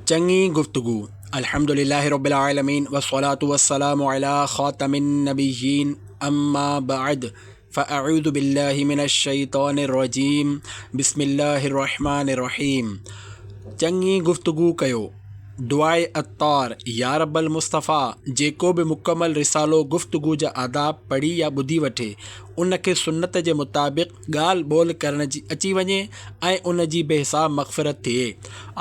چڱي گفتگو الحمد لله رب العالمين والصلاة والسلام علي خاتم النبيين اما بعد فاعوذ بالله من الشيطان الرجيم بسم الله الرحمن الرحيم چڱي گفتگو ڪيو دعائي عطار يا رب المصطفيٰ جيڪو به مڪمل رسالو گفتگو جا آداب پڙهي يا ٻڌي وٺي ان کي سنت جي مطابق ڳالهه ٻولهه ڪرڻ جي اچي وڃي ۽ ان جي بي حساب مغفرت ٿئي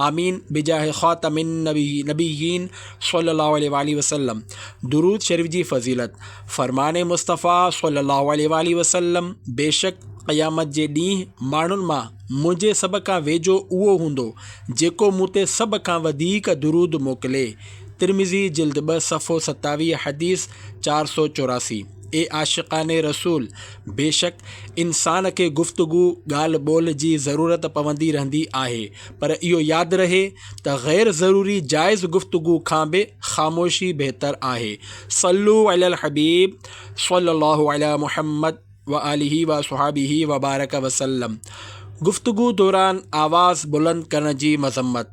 آمين بجاهه خاتم النبيين صلي الله عليه واٰله وسلم درود شريف جي فضيلت، فرمان مصطفيٰ صلي الله عليه واٰله وسلم بيشڪ قيامت جي ڏينهن ماڻهن مان منهنجي سڀ کان ويجهو اهو هوندو جيڪو مون تي سڀ کان وڌيڪ درود موڪلي ترمذي جلد ٻه صفحو ستاويهه حديث چار سؤ چوراسي. اي عاشقان رسول! بيشڪ انسان کي گفتگو، ڳالهه ٻولهه، جي ضرورت پوندي رهندي آهي پر اهو ياد رهي ته غير ضروري جائز گفتگو کان به خاموشي بهتر آهي. صلو علي الحبيب صلي الله علي محمد وآله وصحبه وبارڪ وسلم گفتگو دوران آواز بلند ڪرڻ جي مذمت.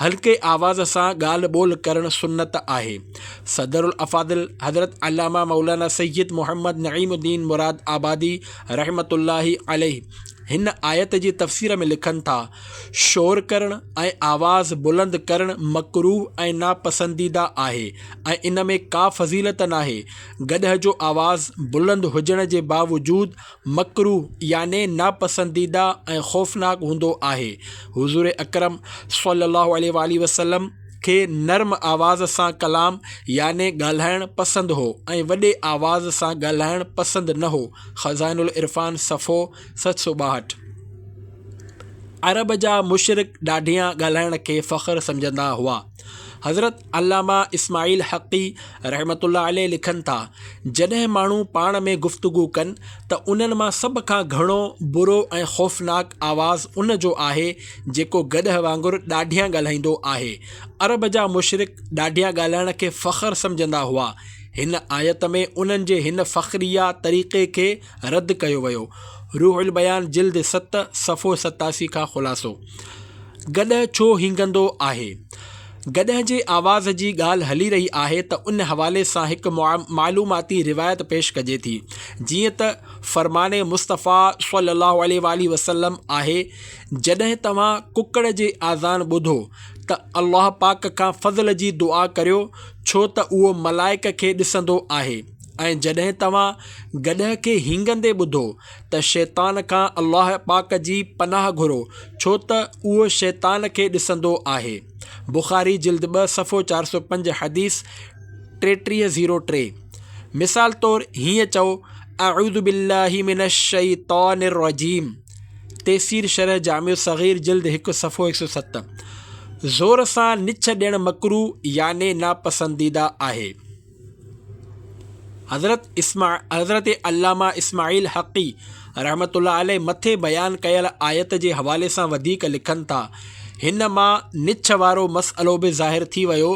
هلڪي آواز سان ڳالهه ٻولهه ڪرڻ سنت آهي. صدر الافاضل حضرت علامه مولانا سيد محمد نعيم الدين مراد آبادي رحمة الله عليه هن آيت جي تفسير ۾ لکن ٿا، شور ڪرڻ ۽ آواز بلند ڪرڻ مڪروه ۽ ناپسنديده آهي ۽ ان ۾ ڪا فضيلت ناهي، گڏهه جو آواز بلند هجڻ جي باوجود مڪروه يعني ناپسنديده ۽ خوفناڪ هوندو آهي. حضور اڪرم صلي الله عليه واٰله وسلم کي نرم آواز سان ڪلام يعني ڳالهائڻ پسند هو ۽ وڏي آواز سان ڳالهائڻ پسند نه هو، خزائن العرفان صفحو ست سؤ ٻاهٺ. عرب جا مشرڪ ڏاڍيان ڳالهائڻ کي فخر سمجهندا هئا. حضرت. علامه اسماعيل حقي رحمة الله عليه لکن ٿا، جڏهن ماڻهو پاڻ ۾ گفتگو ڪن ته انهن مان سڀ کان گهڻو برو ۽ خوفناڪ آواز ان جو آهي جيڪو گڏهه وانگر ڏاڍيان ڳالهائيندو آهي. عرب جا مشرڪ ڏاڍيان ڳالهائڻ کي فخر سمجهندا هئا. هن آيت ۾ انهن جي هن فخريه طريقي کي رد ڪيو ويو. روح البيان جلد ست صفحو ستاسي کان خلاصو. گڏهه ڇو هينگندو آهي؟ گڏهه جي آواز جي ڳالهه هلي رهي آهي ته ان حوالي سان هڪ معلوماتي روايت پيش ڪجي ٿي جيئن ته فرمان مصطفيٰ صلّي اللّٰه عليه واٰله وسلّم آهي جڏهن توهان ڪڪڙ جي آذان ٻڌو ته الله پاڪ کان فضل جي دعا ڪريو ڇو ته اهو ملائڪ کي ڏسندو آهي ۽ جڏهن توهان گڏهه کي هينگندي ٻڌو ته شيطان کان الله پاڪ جي پناهه گهرو ڇو ته اهو شيطان کي ڏسندو آهي. بخاري جلد ٻه صفحو چار سؤ پنج حديث ٽيٽيهه زيرو ٽي مثال طور هيئن چئو اعوذ بالله من الشيطان الرجيم تيسير شرح جامع الصغير جلد هڪ صفحو هڪ سؤ ست زور سان نڇ ڏيڻ مڪروه يعني ناپسنديده آهي. حضرت علامه اسماعيل حقي رحمة الله عليه مٿي بيان ڪيل آيت جي حوالي سان وڌيڪ لکن ٿا، هن مان نڇ وارو مسئلو به ظاهر ٿي ويو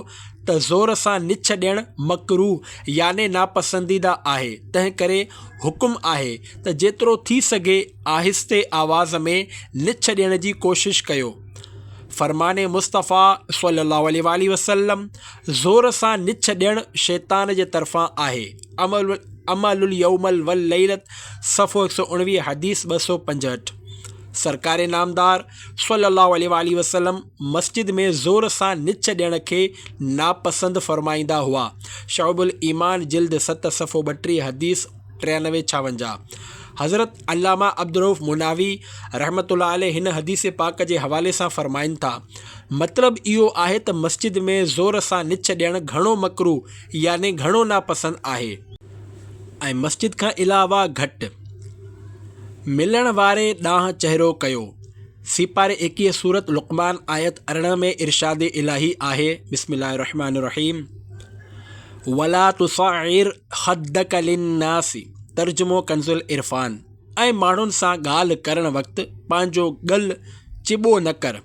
ته زور سان نڇ ڏيڻ مڪروه يعني ناپسنديده آهي، تنهن ڪري حڪم آهي ته جيترو ٿي سگهي آهستي آواز ۾ نڇ ڏيڻ جي ڪوشش ڪيو. فرمان مصطفيٰ صلي الله عليه وآله وسلم. زور سان نڇ ڏيڻ شيطان جي طرفان آهي، اعملوا اليوم والليلة، صفحو هڪ سؤ اڻويهه، حديث ٻه سؤ پنجهٺ، سرڪار نامدار صلّي اللّٰه عليه واٰله وسلّم مسجد ۾ زور سان نڇ ڏيڻ کي ناپسند فرمائيندا هئا، شعب الايمان جلد ست صفحو ٻٽيهه، حديث. ٽيانوي ڇاونجاهه، حضرت علامه عبدالرؤف مناوي رحمة الله عليه هن حديث پاڪ جي حوالي سان فرمائن ٿا، مطلب اهو آهي ته مسجد ۾ زور سان نچ ڏيڻ گهڻو مڪروه يعني گهڻو ناپسند آهي. ۽ مسجد کان علاوه گهٽ ملڻ واري ڏانهن چهرو ڪيو. سي پاري ايڪيهه سورة لقمان آيت ارڙهن ۾ ارشاد الاهي آهي، بسم الله الرحمٰن الرحيم. ولا تصعر خدک للناس ترجمو ڪنزالعرفان ۽ ماڻهن سان ڳالهه ڪرڻ وقت پنهنجو ڳل چٻو نه ڪر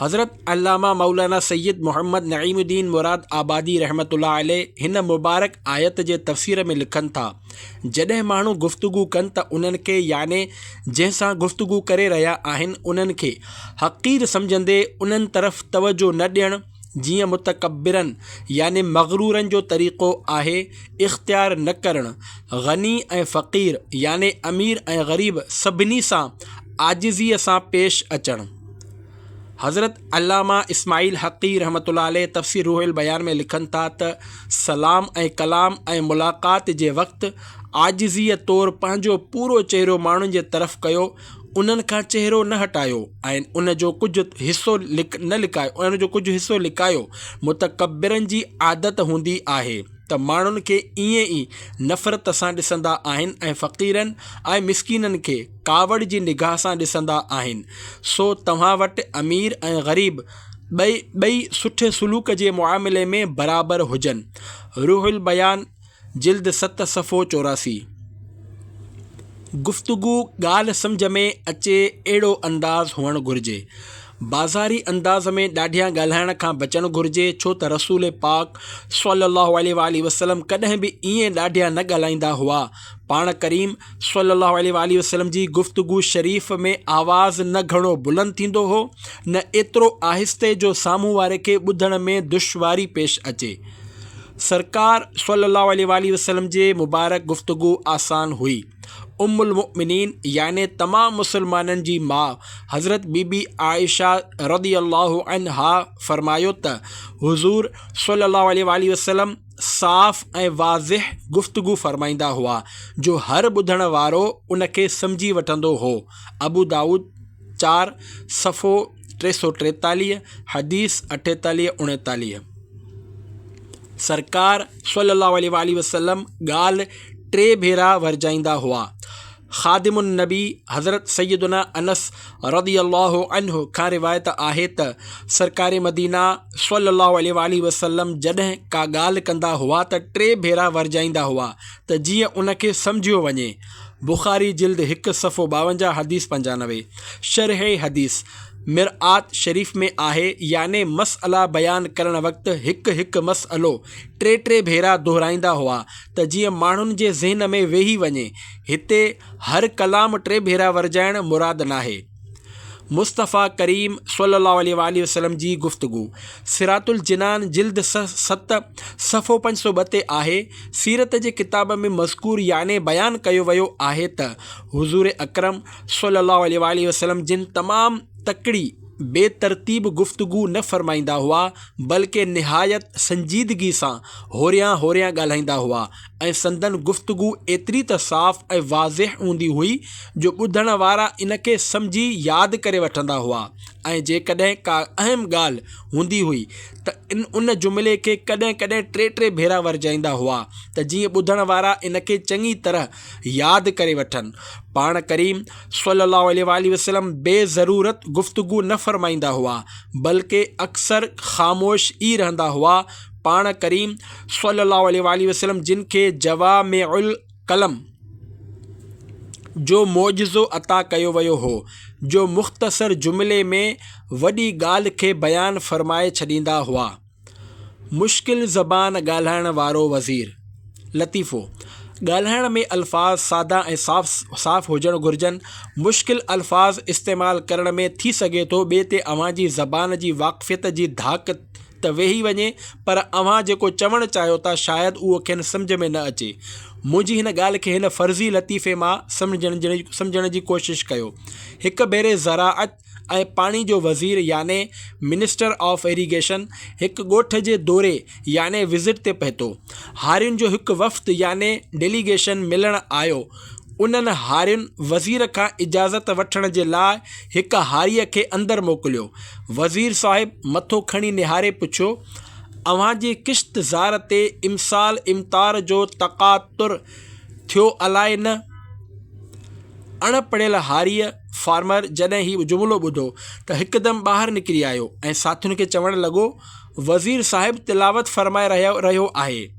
حضرت علامه مولانا سيد محمد نعيم الدين مراد آبادي رحمت الله عليه هن مبارڪ آيت جي تفسير ۾ لکن ٿا جڏهن ماڻهو گفتگو ڪن ته انهن کي يعني جنهن سان گفتگو ڪري رهيا آهن انهن کي حقير سمجهندي انهن طرف توجهه نه ڏيڻ جيئن متڪبرن يعني مغرورن جو طريقو آهي، اختيار نه ڪرڻ، غني ۽ فقير يعني امير ۽ غريب سڀني سان عاجزيء سان پيش اچڻ. حضرت علامه اسماعيل حقي رحمة الله عليه تفسير روح البيان ۾ لکن ٿا ته، سلام ۽ ڪلام ۽ ملاقات جي وقت عاجزيء طور پنهنجو پورو چهرو ماڻهن جي طرف ڪيو، انهن کان چهرو نه هٽايو ۽ ان جو ڪجهه حصو نه لڪايو ان جو ڪجهه حصو لڪايو. متڪبرن جي عادت هوندي آهي ته ماڻهن کي ائين ئي نفرت سان ڏسندا آهن ۽ فقيرن ۽ مسڪينن کي ڪاوڙ جي نگاهه سان ڏسندا آهن. سو توهان وٽ امير ۽ غريب ٻئي سٺي سلوڪ جي معاملي ۾ برابر هجن. روح البيان جلد ست صفحو چوراسي. گفتگو ڳالهه سمجهه ۾ اچي اهڙو انداز هئڻ گهرجي. بازاري انداز ۾ ڏاڍيان ڳالهائڻ کان بچڻ گهرجي ڇو ته رسول پاڪ صلي الله عليه واٰله وسلم ڪڏهن به ائين ڏاڍيان نه ڳالهائيندا هئا. پاڻ ڪريم صلي الله عليه واٰله وسلم جي گفتگو شريف ۾ آواز نه گهڻو بلند ٿيندو هو نه ايترو آهستي جو سامهون واري کي ٻڌڻ ۾ دشواري پيش اچي. سرڪار صلّي اللّٰه عليه واٰله وسلّم جي مبارڪ گفتگو آسان هئي. ام المؤمنين يعني تمام مسلمانن جي ماء حضرت بي بي عائشه رضي اللّٰه عنها فرمايو ته حضور صلّي اللّٰه عليه واٰله وسلّم صاف ۽ واضح گفتگو فرمائيندا هئا جو هر ٻڌڻ وارو ان کي سمجهي وٺندو هو، ابودائود، چار، صفحو، ٽي سؤ ٽيتاليهه حديث اٺيتاليهه اوڻيتاليهه، سرڪار صلّي اللّٰه عليه واٰله وسلّم ڳالهه ٽي ڀيرا ورجائيندا هئا. خادم النّبي حضرت سيّدنا انس رضي اللّٰه عنه کان روايت آهي ته سرڪار مدينه صلّي اللّٰه عليه واٰله وسلّم جڏهن ڪا ڳالهه ڪندا هئا ته ٽي ڀيرا ورجائيندا هئا ته جيئن ان کي سمجهيو وڃي بخاري جلد هڪ صفحو ٻاونجاهه حديث پنجانوي شرح حديث مرآت شريف ۾ آهي يعني مسئلا بيان ڪرڻ وقت هڪ هڪ مسئلو ٽي ٽي ڀيرا دهرائيندا هئا ته جيئن ماڻهن جي ذهن ۾ ويهي وڃي هتي هر ڪلام ٽي ڀيرا ورجائڻ مراد ناهي. مصطفيٰ ڪريم صلي الله عليه واٰله وسلم جي گفتگو صراط الجنان جلد ست صفحو پنج سؤ ٻه تي آهي، سيرت جي ڪتاب ۾ مذڪور يعني بيان ڪيو ويو آهي ته حضور اڪرم صلي الله عليه واٰله وسلم جن تمام تڪڙي بي ترتيب گفتگو نه فرمائيندا هئا بلڪه نهايت سنجيدگي سان هوريان هوريان ڳالهائيندا هئا ۽ ۽ سندن گفتگو ايتري ته صاف ۽ واضح هوندي هئي جو ٻڌڻ وارا ان کي سمجهي ياد ڪري وٺندا هئا ۽ جيڪڏهن ڪا اهم ڳالهه هوندي هئي ته ان جملي کي ڪڏهن ڪڏهن ٽي ٽي ڀيرا ورجائيندا هئا ته جيئن ٻڌڻ وارا ان کي چڱي طرح ياد ڪري وٺن. پاڻ ڪريم صلّي اللّٰه عليه واٰله وسلّم بي ضرورت گفتگو نه فرمائيندا هئا بلڪه اڪثر خاموش ئي رهندا هئا، پاڻ ڪريم صلّي اللّٰه عليه واٰله وسلّم جن کي جوامع الڪلم جو معجزو عطا ڪيو ويو هو جو مختصر جملي ۾ وڏي ڳالهه کي بيان فرمائي ڇڏيندا هئا. مشڪل زبان ڳالهائڻ وارو وزير. لطيفو، ڳالهائڻ ۾ الفاظ سادا ۽ صاف صاف هجڻ گهرجن. مشڪل الفاظ استعمال ڪرڻ ۾ ٿي سگهي ٿو ٻئي تي اوهان جي زبان جي واقفيت جي ڌاڪ ته ويهي وڃي، پر اوهان جيڪو چوڻ چاهيو ٿا، شايد اهو کين سمجهه ۾ نه اچي. منهنجي هن ڳالهه کي هن فرضي لطيفي مان سمجهڻ جي ڪوشش ڪيو. هڪ ڀيري زراعت ۽ پاڻي جو وزير يعني Minister of Irrigation هڪ ڳوٺ جي دوري يعني Visit تي پهتو. هارين جو هڪ وفد يعني Delegation ملڻ آيو انهن هارين وزير کان اجازت وٺڻ جي لاء هڪ هاريء کي اندر موڪليو. وزير صاحب مٿو کڻي نهاري پڇيو، اوهان جي ڪشت زار تي امسال امطار جو تقاطر ٿيو الائي نه؟ اڻ پڙهيل هاريء، Farmer، جڏهن هي جملو ٻڌو ته هڪدم ٻاهر نڪري آيو ۽ ساٿين کي چوڻ لڳو، وزير صاحب تلاوت فرمائي رهيو آهي.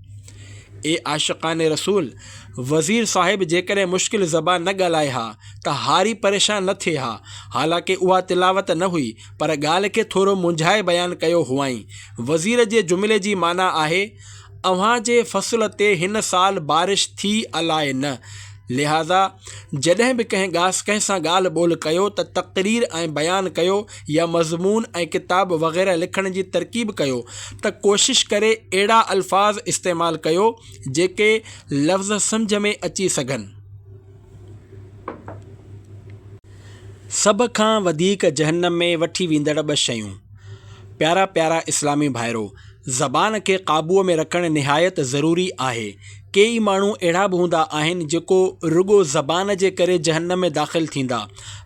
اي عاشقان رسول! وزير صاحب جيڪڏهن مشڪل زبان نه ڳالهائي ها ته هاري پريشان نه ٿئي ها. حالانڪه اها تلاوت نه هئي پر ڳالهه کي ٿورو منجهائي بيان ڪيو هئائين. وزير جي جملي جي معنيٰ آهي، اوهان جي فصل تي هن سال بارش ٿي الاء نه، لهذا جڏهن به ڪنهن سان ڳالهه ٻولهه ڪيو ته تقرير ۽ بيان ڪيو يا مضمون ۽ ڪتاب وغيره لکڻ جي ترڪيب ڪيو ته ڪوشش ڪري اهڙا الفاظ استعمال ڪيو جيڪي لفظ سمجهه ۾ اچي سگهن. سڀ کان وڌيڪ جهنم ۾ وٺي ويندڙ ٻه شيون. پيارا پيارا اسلامي ڀائرو! زبان کي قابوء ۾ رکڻ نهايت ضروري آهي. ڪيئي ماڻهو اهڙا به هوندا آهن جيڪو رڳو زبان جي ڪري جهنم ۾ داخل ٿيندا.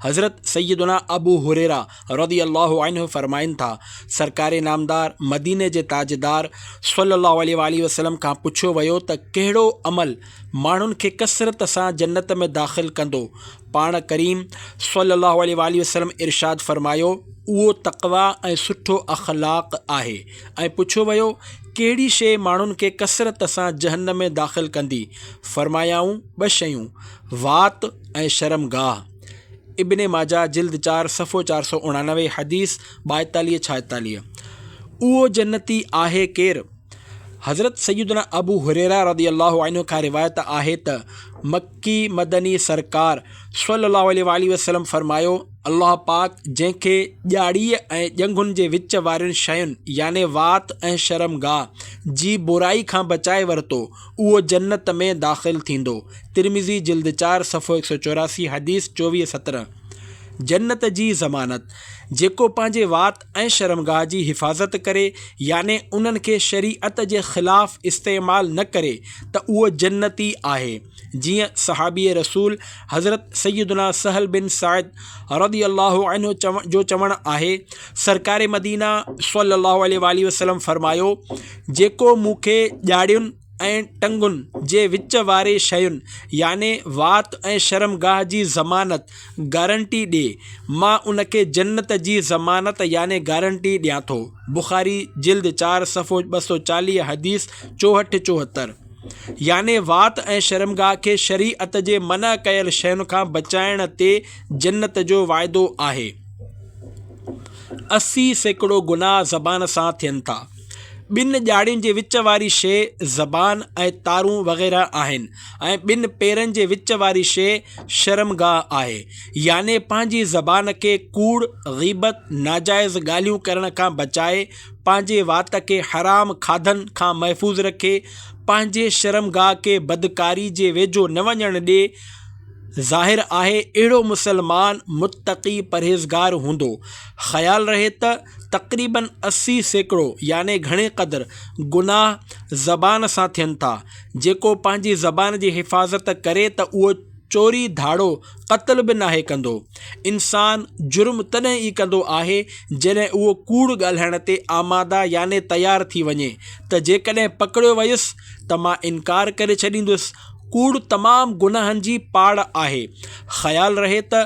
حضرت سيدنا ابو هريره رضي الله عنه فرمائن ٿا، سرڪار نامدار مديني جي تاجدار صلّي اللّٰه عليه واٰله وسلّم کان پڇيو ويو ته ڪهڙو عمل ماڻهن کي ڪثرت سان جنّت ۾ داخل ڪندو؟ پاڻ ڪريم صلّي اللّٰه عليه واٰله وسلّم ارشاد فرمايو، اهو تقويٰ ۽ سٺو اخلاق آهي ۽ پڇيو ويو، ڪهڙي شيء ماڻهن کي ڪثرت سان جهنّم ۾ داخل ڪندي؟ فرمايائون، ٻه شيون، وات، ۽ شرم گاهه. ابن ماجه جلد چار صفحو چار سؤ اڻانوي حديث ٻائيتاليهه ڇائيتاليهه، اهو جنتي آهي ڪير؟ حضرت سيدنا ابو هريره رضي الله عنه کان روايت آهي ته مڪي مدني سرڪار صلّي اللّٰه عليه واٰله وسلّم فرمايو، الله پاڪ جنهن کي ڄاڙيء ۽ ڄنگهن جي وچ وارين شين يعني وات ۽ شرم گاهه جي برائي کان بچائي ورتو، اهو جنت ۾ داخل ٿيندو. ترمذي جلد چار صفحو هڪ سؤ چوراسي حديث چوويهه سترهن، جنت جي ضمانت، جيڪو پنهنجي وات ۽ شرمگاهه جي حفاظت ڪري يعني انهن کي شريعت جي خلاف استعمال نه ڪري ته اهو جنتي آهي جيئن صحابي رسول حضرت سيدنا سهل بن سعد رضي الله عنه جو چوڻ آهي سرڪار مدينه صلي الله عليه واٰله وسلم فرمايو جيڪو مون کي ڄاڙين ۽ ٽنگن جي وچ واري شين يعني وات ۽ شرمگاهه جي ضمانت، گارنٽي، ڏي، مان ان کي جنت جي ضمانت يعني گارنٽي ڏيان ٿو. بخاري جلد چار صفحو ٻه سؤ چاليهه حديث چوهٺ چوهتر يعني وات ۽ شرمگاهه کي شريعت جي منع ڪيل شين کان بچائڻ تي جنت جو وعدو آهي. اسي سيڪڙو گناهه زبان سان ٿين ٿا. ٻن ڄاڙين جي وچ واري شيء زبان ۽ تارون وغيره آهن ۽ ٻن پيرن جي وچ واري شيء شرمگاهه آهي. يعني پنهنجي زبان کي ڪوڙ، غيبت، ناجائز ڳالهيون ڪرڻ کان بچائي، پنهنجي وات کي حرام کاڌن کان محفوظ رکي، پنهنجي شرمگاهه کي بدڪاري جي ويجهو نه وڃڻ ڏي. ظاهر آهي اهڙو مسلمان متقي پرهيزگار هوندو. خيال رهي ته. تقريباً اسي سيڪڙو يعني گهڻي قدر گناهه زبان سان ٿين ٿا. جيڪو پنهنجي زبان جي حفاظت ڪري ته اهو چوري ڌاڙو قتل به ناهي ڪندو. انسان جرم تڏهن ئي ڪندو آهي جڏهن اهو ڪوڙ ڳالهائڻ تي آماده يعني تيار ٿي وڃي ته جيڪڏهن پڪڙيو ويس ته مان انڪار ڪري ڇڏيندس. ڪوڙ تمام گناهن جي پاڙ آهي. خيال رهي ته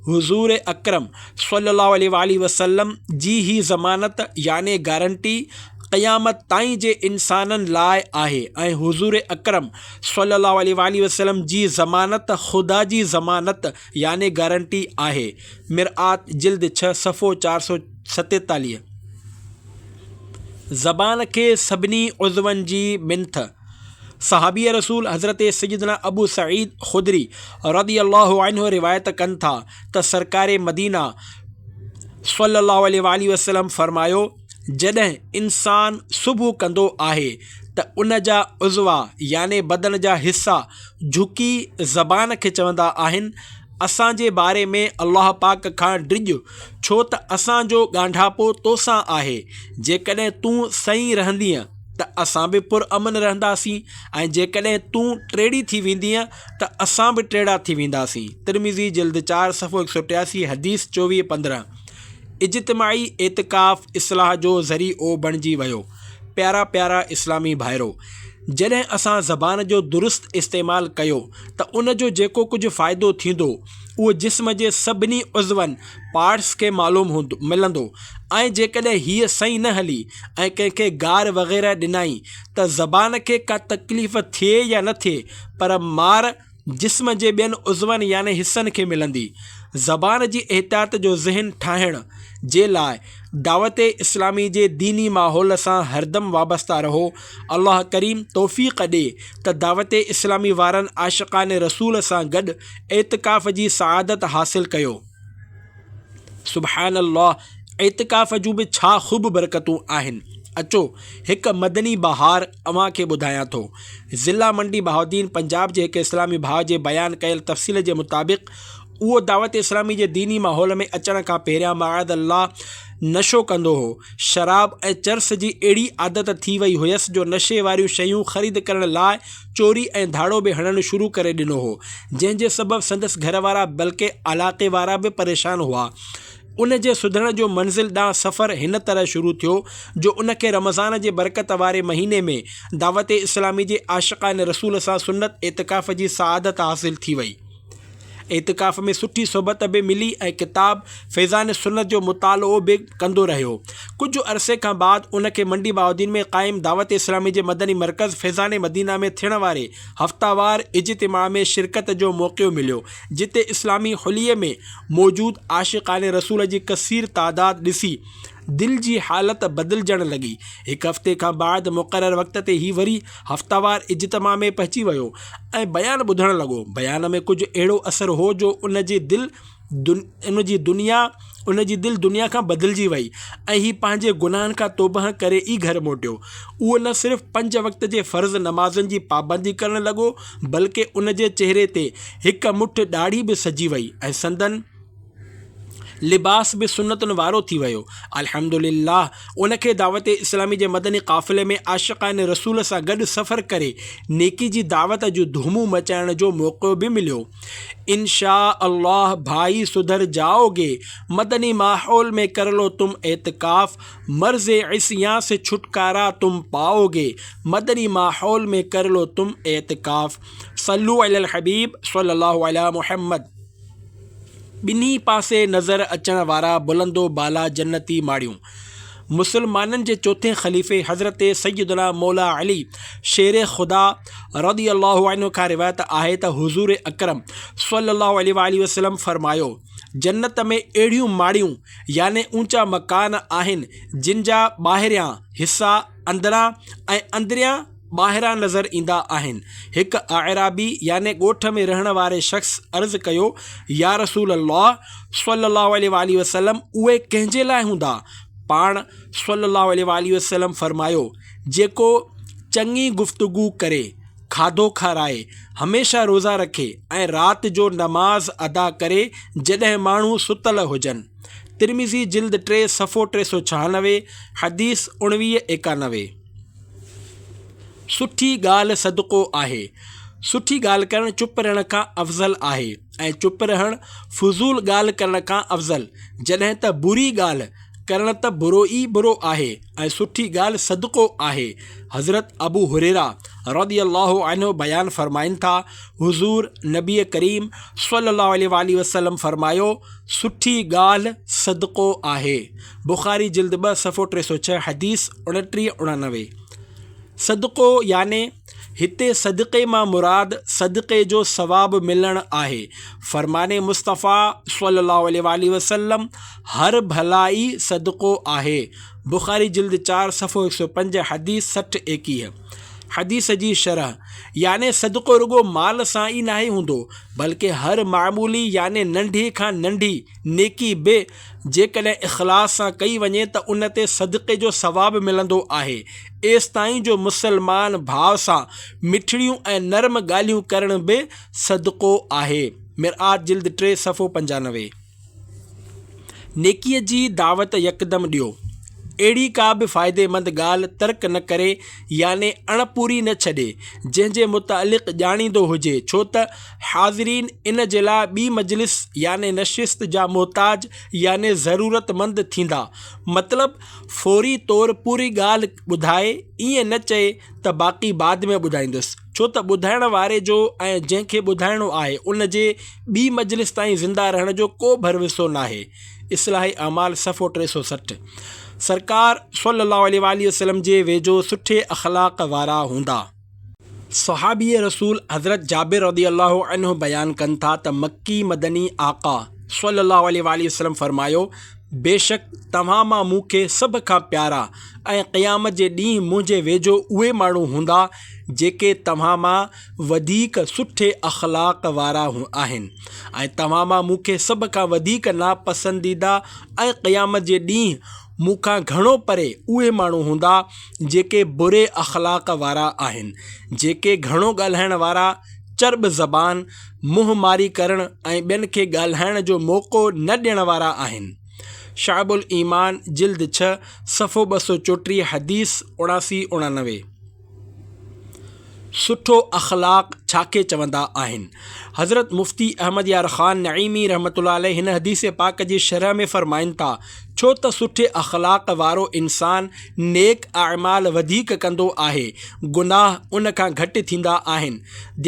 حضور اڪرم صلّي اللّٰه عليه واٰله وسلّم جي هي ضمانت يعني گارنٽي قيامت تائين جي انسانن لاء آهي ۽ حضور اڪرم صلّي اللّٰه عليه واٰله وسلّم جي ضمانت خدا جي ضمانت يعني گارنٽي آهي مرآت جلد ڇهه صفحو چار سؤ ستيتاليهه. زبان کي سڀني عضون جي منٿ، صحابي رسول حضرت سيدنا ابو سعيد خدري رضي الله عنه روايت ڪن ٿا، ته سرڪار مدينه صلّي اللّٰه عليه واٰله وسلّم فرمايو، جڏهن انسان صبح ڪندو آهي ته ان جا عضوا يعني بدن جا حصا جهڪي زبان کي چوندا آهن، اسان جي باري ۾ الله پاڪ کان ڊڄ ڇو ته اسان جو ڳانڍاپو تو سان آهي، جيڪڏهن تون سهي رهندينء ته اسان به پرامن رهنداسين ۽ جيڪڏهن تون ٽيڙي ٿي ويندينء ته اسان به ٽيڙا ٿي وينداسين. ترمذي جلد چار صفحو هڪ سؤ ٽياسي حديث چوويهه پندرهن اجتماعي اعتڪاف اصلاح جو ذري عو بڻجي ويو پيارا پيارا اسلامي ڀائرو! جڏهن اسان زبان جو درست استعمال ڪيو ته ان جو جيڪو ڪجهه فائدو ٿيندو اهو جسم جي سڀني عضون، Parts، کي معلوم هوندو ملندو ۽ جيڪڏهن هيء سئي نه هلي ۽ ڪنهن کي گار وغيره ڏنائين ته زبان کي ڪا تڪليف ٿئي يا نه ٿئي پر مار جسم جي ٻين عضون يعني حصن کي ملندي. زبان جي احتياط جو ذهن ٺاهڻ جي لاء دعوت اسلامي جي ديني ماحول سان هردم وابسته رهو. الله ڪريم توفيق ڏي ته دعوت اسلامي وارن عاشقان رسول سان گڏ اعتڪاف جي سعادت حاصل ڪيو. سبحان الله اعتڪاف جون به ڇا خوب برڪتون آهن اچو هڪ مدني بهار اوهان کي ٻڌايان ٿو ضلع منڊي بهاؤالدين پنجاب جي هڪ اسلامي ڀاء جي بيان ڪيل تفصيل جي مطابق اهو دعوت اسلامي جي ديني ماحول ۾ اچڻ کان پهريان معاذ الله نشو ڪندو هو شراب ۽ چرس جي اهڙي عادت ٿي وئي هيس جو نشي واريون شيون خريد ڪرڻ لاء چوري ۽ ڌاڙو به هڻڻ شروع ڪري ڏنو هو، جنهن جي سبب سندس گهر وارا بلڪه علاقي وارا به پريشان هئا. ان جي سڌرڻ جو منزل ڏانهن سفر هن طرح شروع ٿيو جو ان کي رمضان جي برڪت واري مهيني ۾ دعوت اسلامي جي عاشقان رسول سان سنت اعتڪاف جي سعادت حاصل ٿي وئي. اعتڪاف ۾ سٺي صحبت به ملي ۽ ڪتاب فيضان سنت جو مطالعو به ڪندو رهيو. ڪجهه عرصي کان بعد ان کي منڊي بهاؤالدين ۾ قائم دعوت اسلامي جي مدني مرڪز فيضان مدينه ۾ ٿيڻ واري هفتوار اجتماع ۾ شرڪت جو موقعو مليو، جتي اسلامي حليي ۾ موجود عاشقان رسول جي ڪثير تعداد ڏسي دل جي حالت بدلجڻ لڳي. هڪ هفتي کان بعد مقرر وقت تي هي وري هفتوار اجتماع ۾ پهچي ويو ۽ بيان ٻڌڻ لڳو. بيان ۾ ڪجهه اهڙو اثر هو جو ان جي دل ان جي دنيا ان جي دل دنيا کان بدلجي وئي ۽ هي پنهنجي گناهن کان توبهه ڪري ئي گهر موٽيو. اهو نه صرف پنج وقت جي فرض نمازن جي پابندي ڪرڻ لڳو بلڪه ان جي چهري تي هڪ مٺ ڏاڙهي به سجي وئي ۽ سندن لباس به سنتن وارو ٿي ويو. الحمد لله ان کي دعوت اسلامي جي مدني قافلي ۾ عاشقان رسول سان گڏ سفر ڪري نيڪي جي دعوت جون ڌومون مچائڻ جو موقعو به مليو. انشاء الله ڀائي سڌر جائو گي، مدني ماحول مين ڪرلو تم اعتڪاف، مرض عصيان سي ڇٽڪارا تم پائو گي، مدني ماحول مين ڪرلو تم اعتڪاف. صلو علی الحبيب صلي الله علی محمد. ٻنهي پاسي نظر اچڻ وارا بلندو بالا جنتي ماڙيون مسلمانن جي چوٿين خليفي حضرت سيدنا مولا علي شير خدا رضي الله عنه کان روايت آهي ته حضور اڪرم صلي الله عليه واٰله وسلم فرمايو جنت ۾ اهڙيون ماڙيون يعني اوچا مڪان آهن جن جا ٻاهريان حصا اندران ۽ اندريان ٻاهران نظر ايندا آهن. هڪ اعرابي يعني ڳوٺ ۾ رهڻ واري شخص عرض ڪيو، يا رسول الله صلّي الله عليه واٰله وسلّم اهي ڪنهن جي لاء هوندا؟ پاڻ صلّي الله عليه واٰله وسلّم فرمايو، جيڪو چڱي گفتگو ڪري، کاڌو کارائي، هميشه روزا رکي ۽ رات جو نماز ادا ڪري جڏهن ماڻهو ستل هجن. ترمذي جلد ٽي صفحو ٽي سؤ ڇهانوي، حديث اڻويهه ايڪانوي. سٺي ڳالهه صدقو آهي. سٺي ڳالهه ڪرڻ چپ رهڻ کان افضل آهي ۽ چپ رهڻ فضول ڳالهه ڪرڻ کان افضل. جڏهن ته بري ڳالهه ڪرڻ ته برو ئي برو آهي ۽ سٺي ڳالهه صدقو آهي. حضرت ابو هريره رضي الله عنه بيان فرمائن ٿا، حضور نبي ڪريم صلي الله عليه وآله وسلم فرمايو، سٺي ڳالهه صدقو آهي. بخاري جلد ٻه صفحو ٽي سؤ ڇهه حديث. اڻٽيهه اڻانوي، صدقو يعني هتي صدقي مان مراد صدقي جو ثواب ملڻ آهي، فرمان مصطفيٰ صلّي اللّٰه عليه واٰله وسلّم، هر ڀلائي صدقو آهي، بخاري جلد چار صفحو هڪ سؤ پنج حديث سٺ ايڪيهه، حديث جي شرح، يعني صدقو رڳو مال سان ئي ناهي هوندو، بلڪه هر معمولي يعني ننڍي کان ننڍي نيڪي به جيڪڏهن اخلاص سان ڪئي وڃي ته ان تي صدقي جو ثواب ملندو آهي. ايستائين جو مسلمان ڀاء سان مٺڙيون ۽ نرم ڳالهيون ڪرڻ به صدقو آهي. مرآت جلد ٽي صفحو پنجانوي. نيڪيء جي دعوت يڪدم ڏيو. اهڙي ڪا به فائديمند ڳالهه ترڪ نه ڪري يعني اڻپوري نه ڇڏي، جنهن جي متعلق ڄاڻيندو هجي، ڇو ته حاضرين ان جي لاء ٻي مجلس يعني نشست جا محتاج يعني ضرورتمند ٿيندا. مطلب فوري طور پوري ڳالهه ٻڌائي ائين نه چئي ته باقي بعد ۾ ٻڌائيندس ڇو ته ٻڌائڻ واري جو ۽ جنهن کي ٻڌائڻو آهي ان جي ٻي مجلس تائين زنده رهڻ جو ڪو ڀروسو ناهي اصلاح اعمال صفحو ٽي سؤ سٺ سرڪار صلي الله عليه واٰله وسلم جي ويجهو سٺي اخلاق وارا هوندا. صحابي رسول حضرت جابر رضي الله عنه بيان ڪن ٿا ته مڪي مدني آقا صلّي الله عليه واٰله وسلّم فرمايو، بيشڪ توهان مان مون کي سڀ کان پيارا ۽ قيامت جي ڏينهن منهنجي ويجهو اهي ماڻهو هوندا جيڪي توهان مان وڌيڪ سٺي اخلاق وارا آهن ۽ توهان مان مون کي سڀ کان وڌيڪ ناپسنديده ۽ قيامت جي ڏينهن مون کان گهڻو پري اهي ماڻهو هوندا جيڪي بري اخلاق وارا آهن، جيڪي گهڻو ڳالهائڻ وارا، چرٻ زبان، منهن ماري ڪرڻ ۽ ٻين کي ڳالهائڻ جو موقعو نه ڏيڻ وارا آهن. شعب الايمان جلد ڇهه صفحو ٻه سؤ چوٽيهه حديث اڻاسي، اڻانوي. سٺو اخلاق ڇا کي چوندا آهن؟ حضرت مفتي احمد يار خان نعيمي رحمة الله عليه هن حديث پاڪ جي شرح ۾ فرمائن ٿا، ڇو ته سٺي اخلاق وارو انسان نيڪ اعمال وڌيڪ ڪندو آهي، گناهه ان کان گهٽ ٿيندا آهن.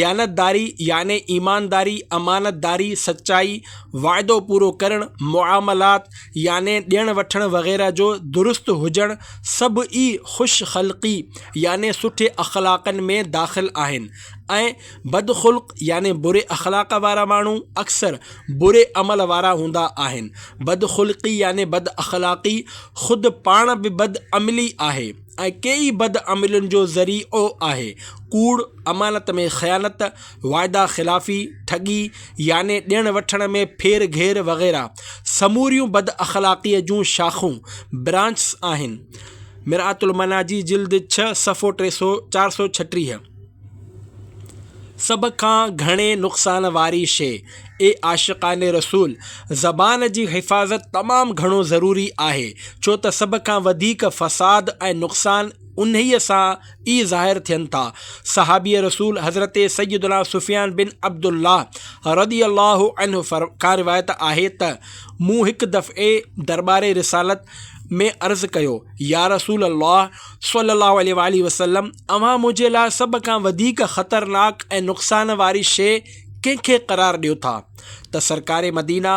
ديانتداري يعني ايمانداري، امانتداري، سچائي، وعدو پورو ڪرڻ، معاملات، يعني ڏيڻ وٺڻ وغيره جو درست هجڻ سڀ ئي خوش خلقي يعني سٺي اخلاقن ۾ داخل آهن ۽ بد خلق يعني بري اخلاق وارا ماڻهو اڪثر بري عمل وارا هوندا آهن بد خلقي يعني بد اخلاقي خود پاڻ به بد عملي آهي ۽ ڪي ئي بد عملين جو ذريعو آهي. ڪوڙ، امانت ۾ خيانت، واعدا خلافي، ٺڳي يعني ڏيڻ وٺڻ ۾ ڦير گهير وغيره سموريون بد اخلاقيء جون شاخون، Branches، آهن. مرآت المناجي جلد ڇهه صفحو ٽي سؤ چار سؤ ڇٽيهه. سڀ کان گهڻي نقصان واري شيء. اي عاشقان رسول! زبان جي حفاظت تمام گهڻو ضروري آهي، ڇو ته سڀ کان وڌيڪ فساد ۽ نقصان انهيء سان ئي ظاهر ٿين ٿا. صحابي رسول حضرت سيدنا سفيان بن عبد الله رضي الله عنه کان روايت آهي ته، مون هڪ دفعي درٻار رسالت ۾ عرض ڪيو، يا رسول الله صلّي الله عليه واٰله وسلّم! اوهان منهنجي لاء سڀ کان وڌيڪ خطرناڪ ۽ نقصان واري شيء ڪنهن کي قرار ڏيو ٿا ته سرڪار مدينه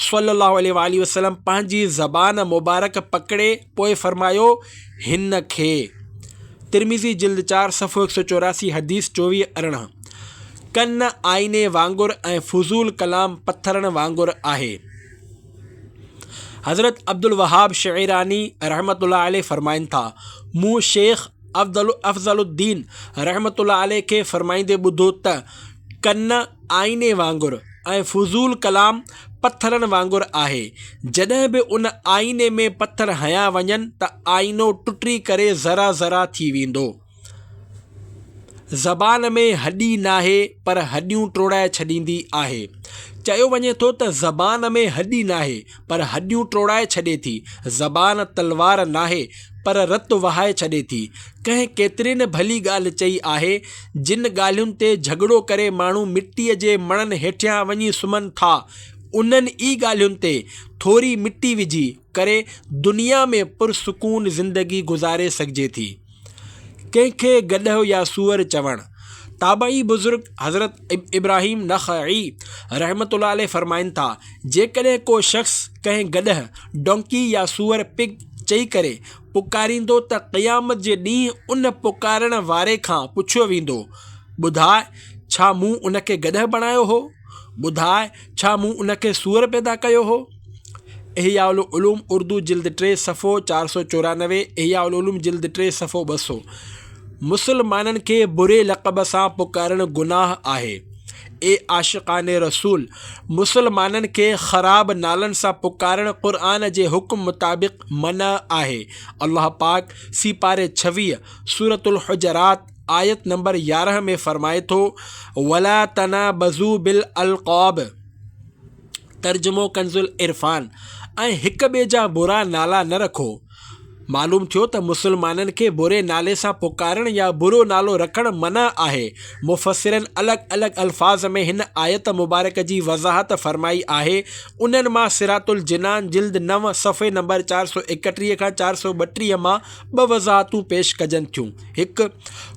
صلّي اللّٰه عليه واٰله وسلّم پنهنجي زبان مبارڪ پڪڙي پوء فرمايو، هن کي. ترمذي جلد چار صفحو هڪ سؤ چوراسي حديث چوويهه ارڙهن ڪن آئيني وانگر ۽ فضول ڪلام پٿرن وانگر آهي حضرت عبدالوهاب شعيراني رحمة الله عليه فرمائن ٿا، مون شيخ افضل الدين رحمة الله عليه کي فرمائيندي ٻڌو ته، ڪن آئيني وانگر ۽ فضول ڪلام پٿرن وانگر آهي. جڏهن به ان آئيني ۾ پٿر هنيا وڃن ته آئينو ٽٽي ڪري ذرا ذرا ٿي ويندو. زبان ۾ هڏي ناهي پر هڏيون ٽوڙائي ڇڏيندي آهي. چيو وڃي ٿو ته زبان ۾ هڏي ناهي. پر هڏيون ٽوڙائي ڇڏي ٿي. زبان تلوار ناهي، پر رت وهائي ڇڏي ٿي. ڪنهن ڪيتري نه ڀلي ڳالهه چئي آهي، جن ڳالهين تي جهڳڙو ڪري ماڻهو مٽيء جي مڻن هيٺيان وڃي سمهن ٿا، انهن ئي ڳالهين تي ٿوري مٽي وجهي ڪري دنيا ۾ پرسڪون زندگي گذاري سگهجي ٿي. ڪنهن کي گڏهه يا سوئر چوڻ؟ تابعي بزرگ حضرت ابراهيم نخعي رحمة الله عليه فرمائن ٿا، جيڪڏهن ڪو شخص ڪنهن گڏهه، Donkey، يا سوئر، Pig، چئي ڪري پڪاريندو ته قيامت جي ڏينهن ان پڪارڻ واري کان پڇيو ويندو، ٻڌاء ڇا مون ان کي گڏهه بڻايو هو؟ ٻڌاء ڇا مون ان کي سوئر پيدا ڪيو هو؟ احياء العلوم اردو جلد ٽي صفحو چار سؤ چورانوي احياء العلوم جلد ٽي صفحو ٻه سؤ مسلمانن کي بري لقب سان پڪارڻ گناھ آهي اي عاشقان رسول مسلمانن کي خراب نالن سان پڪارڻ قرآن جي حڪم مطابق منع آهي الله پاڪ سيپاري ڇويهه سورة الحجرات آيت نمبر يارهن ۾ فرمائي ٿو ولا تنابزو بل القاب ترجمو ڪنزل عرفان ۽ هڪ ٻئي جا برا نالا نه رکو معلوم ٿيو ته مسلمانن کي بري نالي سان پڪارڻ يا برو نالو رکڻ منع آهي مفسرن الڳ الڳ الفاظ ۾ هن آيت مبارڪ جي وضاحت فرمائي آهي انهن مان سرات الجنان جلد نو صفحي نمبر چار سؤ اڪٽيهه کان چار سؤ ٻٽيهه مان ٻه وضاحتون پيش ڪجن ٿيون هڪ،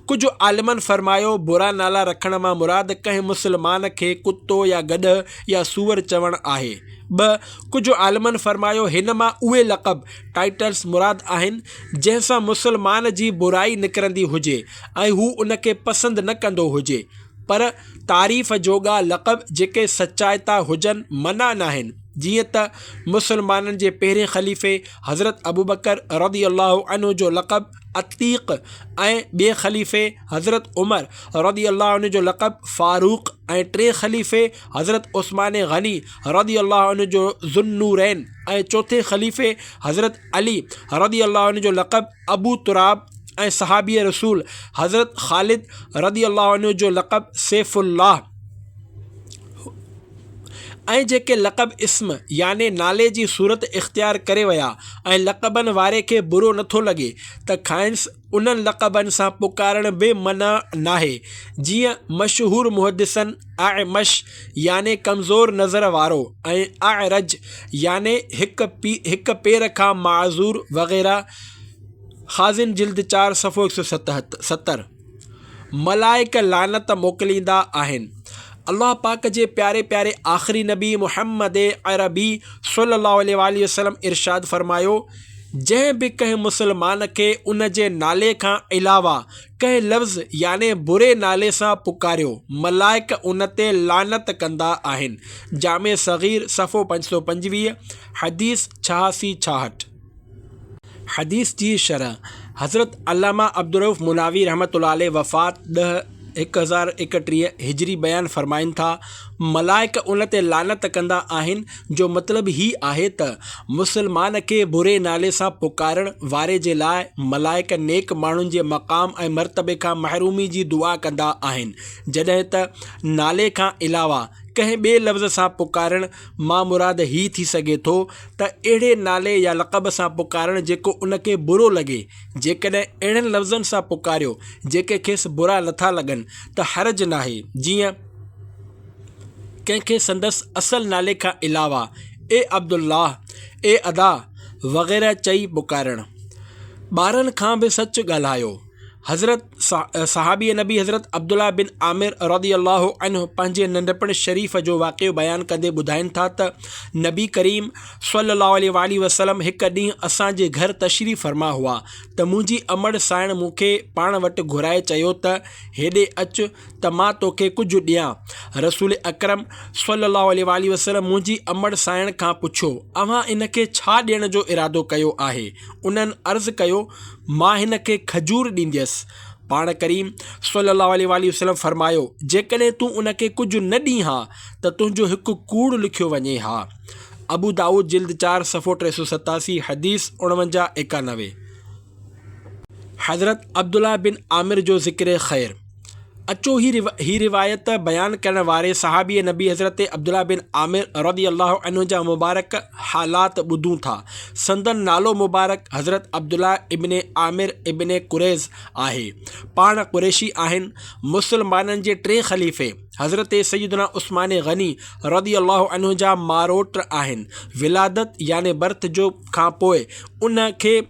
ڪجهه عالمن فرمايو، برا نالا رکڻ مان مراد ڪنهن مسلمان کي ڪتو يا گڏهه يا سوئر چوڻ آهي. ٻه، ڪجهه عالمن فرمايو، هن مان اهي لقب، Titles، مراد آهن، جنهن سان مسلمان جي برائي نڪرندي هجي ۽ هو ان کي پسند نه ڪندو هجي. پر تعريف جوڳا لقب جيڪي سچائتا هجن منع ناهن، جيئن ته مسلمانن جي پهرين خليفي حضرت ابوبڪر رضي الله عنه جو لقب، عتيق ۽ ٻئي خليفي حضرت عمر رضي الله عنه جو لقب فاروق ۽ ٽئين خليفي حضرت عثمان غني رضي الله عنه جو ذو النورين ۽ چوٿين خليفي حضرت علي رضي الله عنه جو لقب ابو تراب ۽ صحابي رسول حضرت خالد رضي الله عنه جو لقب سيف الله ۽ جيڪي لقب اسم يعني نالي جي صورت اختيار ڪري ويا ۽ لقبن واري کي برو نٿو لڳي ته کائنس انهن لقبن سان پڪارڻ به منع ناهي جيئن مشهور محدثن اعمش يعني ڪمزور نظر وارو ۽ اعرج يعني هڪ پير کان معذور وغيره خازن جلد چار صفحو 170 ملائڪ لعنت موڪليندا آهن. الله پاڪ جي پياري پياري آخري نبي محمد عربي صلي الله عليه واٰله وسلم ارشاد فرمايو، جنهن به ڪنهن مسلمان کي ان جي نالي کان علاوه ڪنهن لفظ يعني بري نالي سان پڪاريو، ملائڪ ان تي لعنت ڪندا آهن. جامع صغير صفحو پنج سؤ پنجويهه، حديث ڇهاسي ڇاهٺ. حديث جي شرح، حضرت علامه عبدالرؤف مناوي رحمة الله عليه وفات ڏھ ھڪ ھزار ايڪٽيھھ ھجري بيان فرمائن ٿا، ملائڪ ان تي لعنت ڪندا آھن جو مطلب ھي آھي ته مسلمان کي بري نالي سان پڪارڻ واري جي لاء ملائڪ نيڪ ماڻھن جي مقام ۽ مرتبي کان محرومي جي دعا ڪندا آھن جڏھن ته نالي کان علاوه ڪنھن ٻئي لفظ سان پڪارڻ مان مراد ھي ٿي سگھي ٿو ته اهڙي نالي يا لقب سان پڪارڻ جيڪو ان کي برو لڳي، جيڪڏهن اهڙن لفظن سان پڪاريو جيڪي کيس برا نٿا لڳن ته حرج ناهي، جيئن، ڪنهن کي سندس اصل نالي کان علاوه اي عبدالله، اي ادا وغيره چئي پڪارڻ. ٻارن کان به سچ ڳالهايو. حضرت صحابي نبي حضرت عبدالله بن عامر رضي الله عنه پنهنجي ننڍپڻ شريف جو واقعو بيان ڪندي ٻڌائين ٿا ته نبي ڪريم صلي الله عليه واٰله وسلم هڪ ڏينهن اسان جي گهر تشريف فرما هئا ته منهنجي امڙ سائڻ مون کي پاڻ وٽ گهرائي چيو ته هيڏي اچ ته مان توکي ڪجهه ڏيان رسول اڪرم صلي الله عليه واٰله وسلم منهنجي امڙ سائڻ کان پڇيو اوهان ان کي ڇا ڏيڻ جو ارادو ڪيو آهي انهن عرض ڪيو مان هن کي کجور ڏينديس. پاڻ ڪريم صلّي اللّٰه عليه واٰله وسلّم فرمايو، جيڪڏهن تون ان کي ڪجهه نه ڏين ها ته تنهنجو هڪ ڪوڙ لکيو وڃي ها. ابو دائود جلد چار صفحو ٽي سؤ ستاسي، حديث اڻونجاهه، ايڪانوي. حضرت عبدالله بن عامر جو ذڪر خير. اچو هي روايت بيان ڪرڻ واري صحابي نبي حضرت عبدالله بن عامر رضي الله عنه جا مبارڪ حالات ٻڌون ٿا سندن نالو مبارڪ حضرت عبدالله ابن عامر ابن قريظ آهي پاڻ قريشي آهن مسلمانن جي ٽي خليفي حضرت سيدنا عثمان غني رضي الله عنه جا ماروٽ آهن ولادت يعني برٿ جو کان پوء ان کي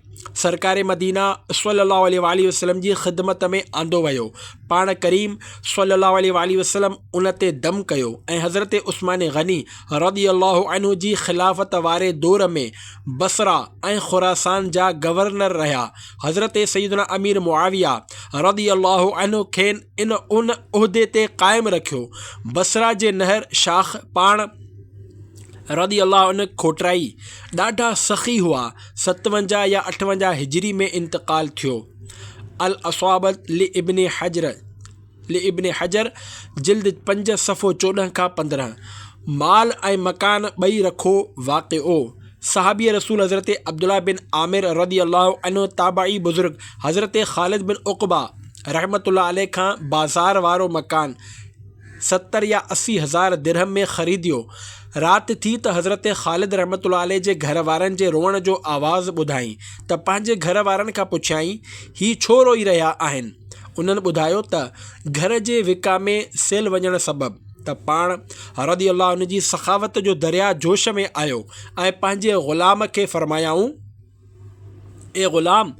سرڪار مدينه صلّي اللّٰه عليه واٰله وسلّم جي خدمت ۾ آندو ويو. پاڻ ڪريم صلّي اللّٰه عليه واٰله وسلّم ان تي دم ڪيو ۽ حضرت عثمان غني رضي اللّٰه عنه جي خلافت واري دور ۾ بصره ۽ خراسان جا گورنر رهيا. حضرت سيدنا امير معاويه رضي اللّٰه عنه کين ان عهدي تي قائم رکيو. بصره جي نهر شاخ پاڻ. رضي الله عنه کوٽرائي ڏاڍا سخي هئا، ستونجاهه يا اٺونجاهه هجري ۾ انتقال ٿيو. الاصابة لابن حجر، لابن حجر، جلد پنج صفحو چوڏهن کان پندرهن، مال ۽ مڪان ٻئي رکو واقعو، صحابي رسول حضرت عبدالله بن عامر رضي الله عنه تابعي بزرگ حضرت خالد بن عقبه رحمة الله عليه کان بازار وارو مڪان، ستر يا اسي هزار درهم ۾ خريديو. رات ٿي ته حضرت خالد رحمة الله عليه جي گهر وارن جي روئڻ جو آواز ٻڌائين ته پنهنجي گهر وارن کان پڇيائين، هي ڇو روئي رهيا آهن؟ انهن ٻڌايو ته گهر جي وڪا ۾ سيل وڃڻ سبب ته پاڻ رضي الله عنه جي سخاوت جو درياء جوش ۾ آيو ۽ پنهنجي غلام کي فرمايائون، اي غلام!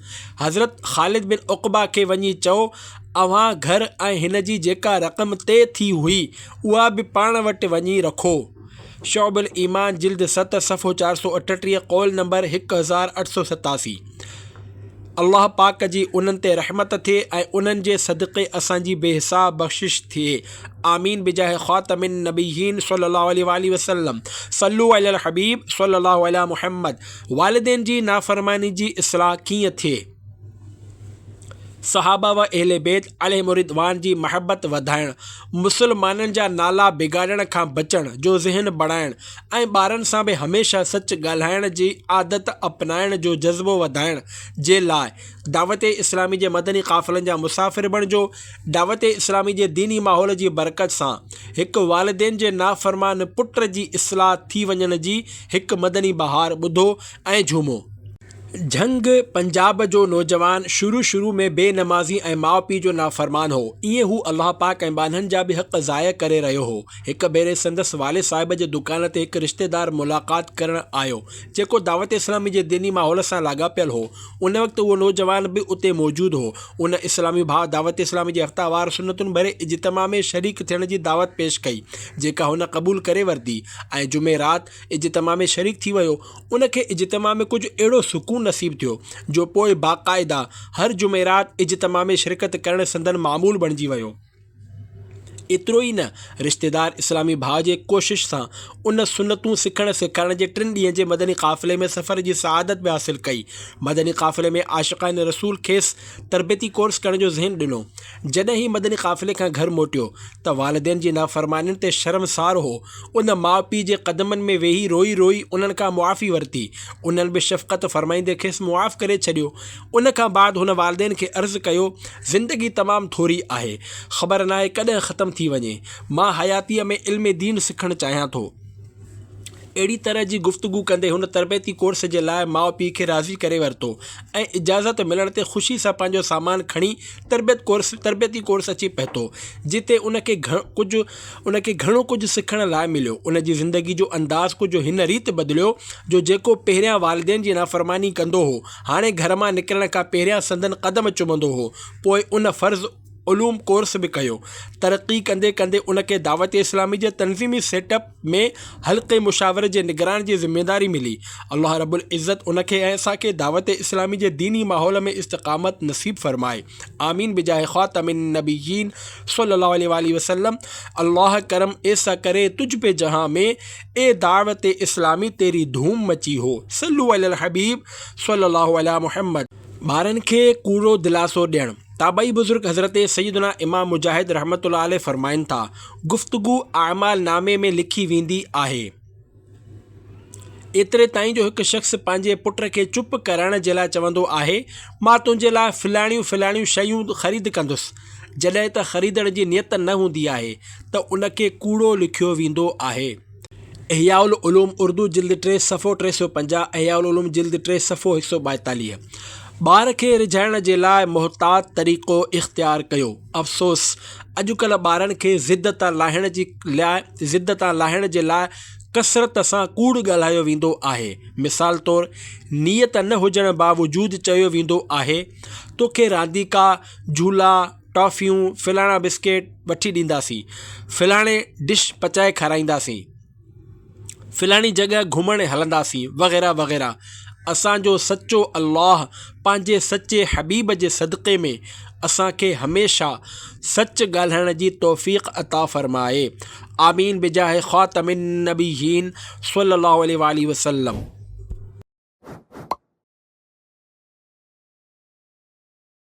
حضرت خالد بن عقبه کي وڃي چئو، اوهان گهر ۽ هن جي جيڪا رقم طئي ٿي هئي، اها به پاڻ وٽ وڃي رکو. شعب الايمان جلد ست صفحو چار سؤ اٺٽيهه، قول نمبر هڪ هزار اٺ سؤ ستاسي. الله پاڪ جي انهن تي رحمت ٿئي ۽ انهن جي صدقي اسان جي بي حساب بخشش ٿئي. آمين بجاه خاتم النبيين صلي الله عليه واٰله وسلم، صلّو علي الحبيب صلّي الله عليٰ محمّد. والدين جي نافرماني جي اصلاح ڪيئن ٿئي؟ صحابه و اهل بيت عليهم الرضوان جي محبت وڌائڻ، مسلمانن جا نالا بگاڙڻ کان بچڻ جو ذهن بڻائڻ ۽ ٻارن سان به هميشه سچ ڳالهائڻ جي عادت اپنائڻ جو جذبو وڌائڻ جي لاء دعوت اسلامي جي مدني قافلن جا مسافر بڻجو دعوت اسلامي جي ديني ماحول جي برڪت سان هڪ والدين جي نافرمان پٽ جي اصلاح ٿي وڃڻ جي هڪ مدني بهار ٻڌو ۽ جهومو. جهنگ پنجاب جو نوجوان شروع شروع ۾ بي نمازي ۽ ماء پيء جو نافرمان هو. ايئن هو الله پاڪ ۽ ٻانهن جا به حق ضايع ڪري رهيو هو. هڪ ڀيري سندس والد صاحب جي دڪان تي هڪ رشتيدار ملاقات ڪرڻ آيو، جيڪو دعوت اسلامي جي ديني ماحول سان لاڳاپيل هو. ان وقت اهو نوجوان به اتي موجود هو. ان اسلامي ڀاء دعوت اسلامي جي هفتوار سنتن ڀري اجتماع ۾ شريڪ ٿيڻ جي دعوت پيش ڪئي، جيڪا هن قبول ڪري ورتي ۽ جمعي رات اجتماع ۾ شريڪ ٿي ويو. ان کي اجتماع ۾ ڪجهه اهڙو سڪون نصيب ٿيو، جو پوء باقاعده هر جمعي رات اجتماع ۾ شرڪت ڪرڻ سندن معمول بڻجي ويو. ايترو ئي نه، رشتيدار اسلامي ڀاء جي ڪوشش سان ان سنتون سکڻ سيکارڻ جي ٽن ڏينهن جي مدني قافلي ۾ سفر جي سعادت به حاصل ڪئي. مدني قافلي ۾ عاشقان رسول کيس تربيتي ڪورس ڪرڻ جو ذهن ڏنو. جڏهن هي مدني قافلي کان گهر موٽيو ته والدين جي نافرمانين تي شرمسار هو. ان ماء پيء جي قدمن ۾ ويهي روئي روئي انهن کان معافي ورتي. انهن به شفقت فرمائيندي کيس معاف ڪري ڇڏيو. ان کان بعد هن والدين کي عرض ڪيو، زندگي تمام ٿوري آهي، خبر ناهي ڪڏهن ختم ٿي وڃي. مان حياتيء ۾ علم دين سکڻ چاهيان ٿو. اهڙي طرح جي گفتگو ڪندي هن تربيتي ڪورس جي لاء ماء پيء کي راضي ڪري ورتو ۽ اجازت ملڻ تي خوشي سان پنهنجو سامان کڻي تربيت ڪورس تربيتي ڪورس اچي پهتو، جتي ان کي گهڻ ڪجهه ان کي گهڻو ڪجهه سکڻ لاء مليو. ان جي زندگي جو انداز ڪجهه هن ريت بدليو جو جيڪو پهريان والدين جي نافرماني ڪندو هو، هاڻي گهر مان نڪرڻ کان پهريان سندن قدم چمندو هو. پوء ان فرض علوم ڪورس به ڪيو. ترقي ڪندي ڪندي ان کي دعوت اسلامي جي تنظيمي سيٽ اپ ۾ حلقي مشاورت جي نگران جي ذميواري ملي. الله رب العزت ان کي ۽ اسان کي دعوت اسلامي جي ديني ماحول ۾ استقامت نصيب فرمائي. آمين بجاهه خاتم النبيين صلي الله عليه واٰله وسلم الله ڪرم ايسا ڪري تجھ پي جهان ۾ اي دعوت اسلامي تيري ڌوم مچي هو صلو علي الحبيب صلي الله علي محمد. ٻارن کي ڪوڙو دلاسو ڏيڻ. تابعي بزرگ حضرت سيدنا امام مجاهد رحمة الله عليه فرمائن ٿا، گفتگو اعمال نامي ۾ لکي ويندي آهي. ايتري تائين جو هڪ شخص پنهنجي پٽ کي چپ ڪرائڻ جي لاء چوندو آهي، مان تنهنجي لاء فلاڻيون فلاڻيون شيون خريد ڪندس. جڏهن ته خريدڻ جي نيت نه هوندي آهي ته ان کي ڪوڙو لکيو ويندو آهي. احياء العلوم اردو جلد ٽي صفحو ٽي سؤ پنجاهه احياء العلوم جلد ٽي صفحو هڪ سؤ ٻائيتاليهه ٻار کي رجهائڻ جي لاء محتاط طريقو اختيار ڪيو افسوس اڄ ڪلهه ٻارن کي ضد تان لاهڻ جي لاء ضد تان لاهڻ جي لاء ڪثرت سان ڪوڙ ڳالهايو ويندو آهي مثال طور نيت نه هجڻ باوجود چيو ويندو آهي توکي رانديڪا جھولا، ٽافيون، ڦلاڻا بسڪيٽ وٺي ڏينداسين. ڦلاڻي ڊش پچائي کارائينداسين. ڦلاڻي جڳهه گهمڻ هلنداسين وغيره وغيره اسان جو سچو الله پنهنجي سچي حبيب جي صدقي ۾ اسان کي هميشه سچ ڳالهائڻ جي توفيق عطا فرمائي آمين بجاھ خاتم النبيين صلي الله عليه وآله وسلم.